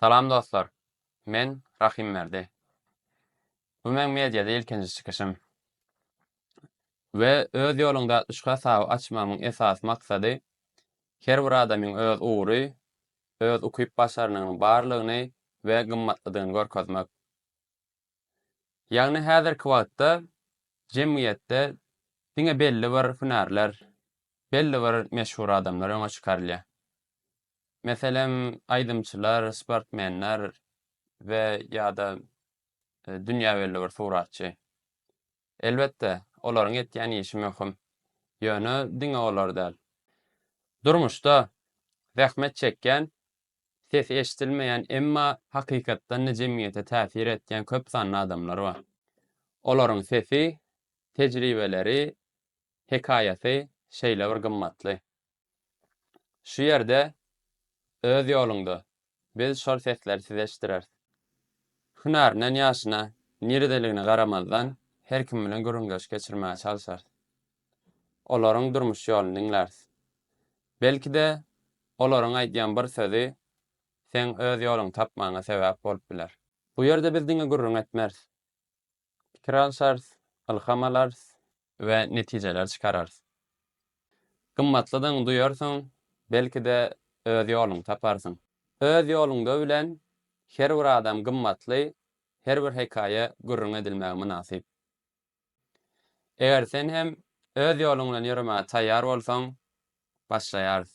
Salam dostlar! Men Rahimberdi. Bu meň mediada ilkinji çykyşym. We Öz ýoluňda atlyşyk hasaby açmagymyň esasy maksady her bir adamyň öz ugry, öz ukyp-başarnygynyň barlygyny we gymmatlydygyny görkezmek. Ýagny häzirki wagtda jemgyýetde diňe belli bir hünärler, belli bir meşhur adamlar öňe çykarylýar. Meselem, aýdymçylar, sportmenler we, ýa-da, dünýä belli bir suratçy. Elbetde, olaryň etýän işi möhüm. Ýöne diňe olar däl. Durmuşda zähmet çekýän, sesi eşidilmeýän, emma hakykatdan-da jemgyýete täsir etýän köp sanly adamlar bar. Olaryň sesi, tejribeleri, hekaýasy şeýle bir gymmatly. Şu ýerde öz ýoluňda biz şol sesleri size eşitdireris. Hünärinden ýaşyna niredeligine garamazdan her kim bilen gürrüňdeşlik geçirmäge çalyşarys. Olaryň durmuş ýoluny diňläris. Belki-de olaryň aýdýan bir sözi seň öz ýoluňy tapmagyňa sebäp bolup biler. Bu ýerde biz diňe gürrüň etmeris. pikir alşarys, ylham alarys we netijeler çykararys. Gymmatlydygyňy duýarsyň, belki-de, öz ýoluňy taparsyň. Öz ýoluňda bilen her bir adam gymmatly, her bir hekaýa gürrüň edilmäge mynasyp. Eger sen hem öz ýoluň bilen ýöremäge taýýar bolsaň, başlaýarys.